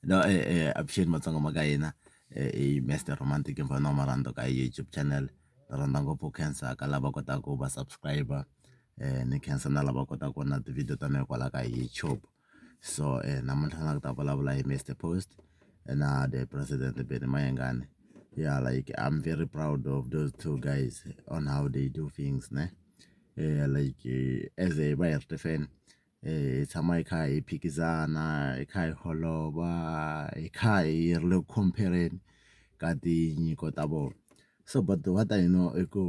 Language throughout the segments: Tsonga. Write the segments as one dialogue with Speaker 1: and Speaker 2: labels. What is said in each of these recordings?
Speaker 1: no eh, eh, appreciate matsongo ma ka hina eh, eh, mr romantic mfana wa marando ka youtube channel ni rhandza ngopfu cancer ka lava kotaka ku va subscriber eh, ni cancer na lava kotaka ku vona tivhidiyo ta mina kwala ka youtube so eh, namuntlha na ku ta vulavula hi mr post eh, na the president beni mayengane yeah like i'm very proud of those two guys on how they do things ne eh, like eh, as a bayerte fan hi tshama hi kha hi phikizana hi kha hi holova hi kha hi ri le ku compare-reni ka tinyiko ta vona so but what I know i ku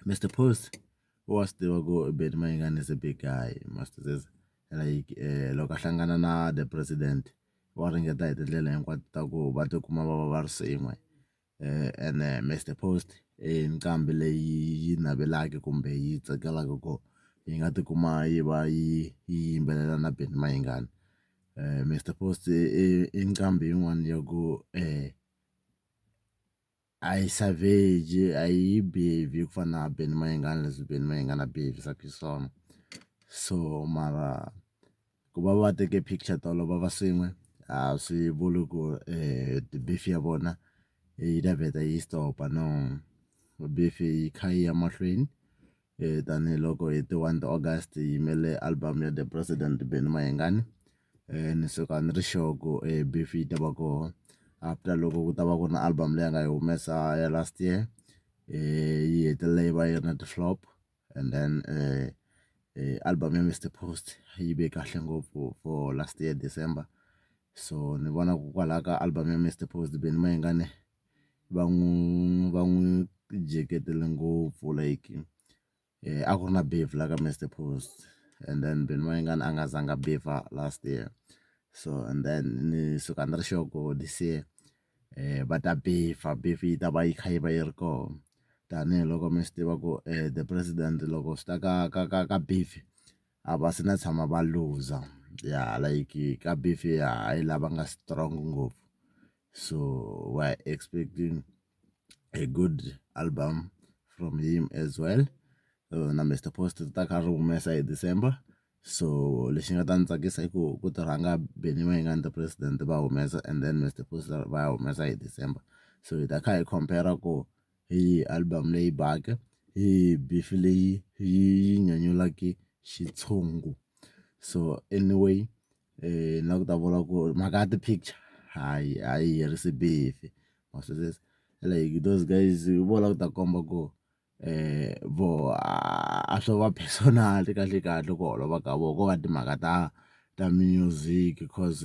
Speaker 1: Mister Post wa swi tiva ku Benny Mayengani is a big guy must like loko a hlangana na the president wa ringeta hi tindlela hinkwato ta ku va tikuma va va va ri swin'we. ene Mister Post i nqambi leyi yi navelaka kumbe yi tsakelaka ku yi nga tikuma yi va yi yimbelela na Benny Mayengani Mister Post i nqambi yin'wana ya ku a yi savage a yi bebhi ku fana na Benny Mayengani leswi Benny Mayengani a behevisaka xiswona so mara. ku va va teke picture tolo va va swin'we a swi vuli ku beef ya vona yi ta vheta yi stop no beef yi kha yi ya mahlweni tanihiloko hi ti one ta August hi yimele album ya the president Benny Mayengani ni suka ni ri sure ku beef yi ta va kona after loko ku ta va ku na album leyi a nga yi humesa ya last year yi hetelela yi va yi ri na ti flop. and then eh, eh, album ya Mr Post yi ve kahle ngopfu for last year December so ni vona ku kwalaho ka album ya Mr Post Benny Mayengane va n'wi va n'wi jeketele ngopfu like eh, a ku ri na beef la ka Mr Post and then Benny Mayengane a nga zanga beef last year so and then ni suka ni ri sure ku this year va ta beef-a beef yi ta va yi kha yi va yi ri kona tanihiloko mi swi tiva ku the president loko swi ta ka ka ka ka beef a va se na tshama va looser ya like ka beef ya hi la va nga strong ngopfu so wa expecting a good album from him as well na Mister Post ri ta ka ri humesa hi December. so lexi nga ta ndzi tsakisa i ku ku ta rhanga Benny Mayengani the president va humesa and then Mister Sibongiseni Zulu va ya humesa hi December so hi ta kha hi compare ku hi yihi album leyi baka hi yihi beef leyi yi nyanyulaka xitshungu so anyway ni lava ku ta vula ku ri mhaka ya ti-picture hayi a yi herisi beef ma swi twisisa like those guys vo lava ku ta komba ku. vo a swo va personal kahlekahle ku holova ka vona ko va timhaka ta ta music coz.